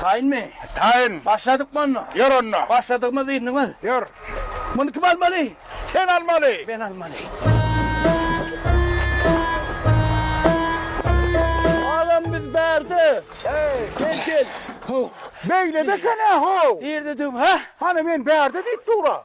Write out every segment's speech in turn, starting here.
Taýynmy? Taýyn. Başladykmy onda? Ýör onda. Başladygymyz diýdiniňiz? Ýör. Muny kim almaly? Sen almaly. Men almaly. Nerede? Hey, gel gel. Ho. Beyle de kana ho. Nerede düm ha? Hani men berde deyip dura.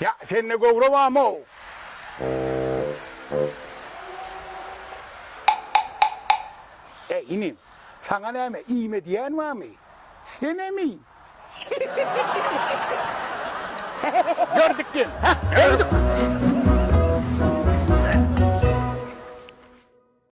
Ýa sende göwre barmow? Eý, inim, saňa näme, iýme diýen barmy? Senemi? Gördük gel, hä, gördük.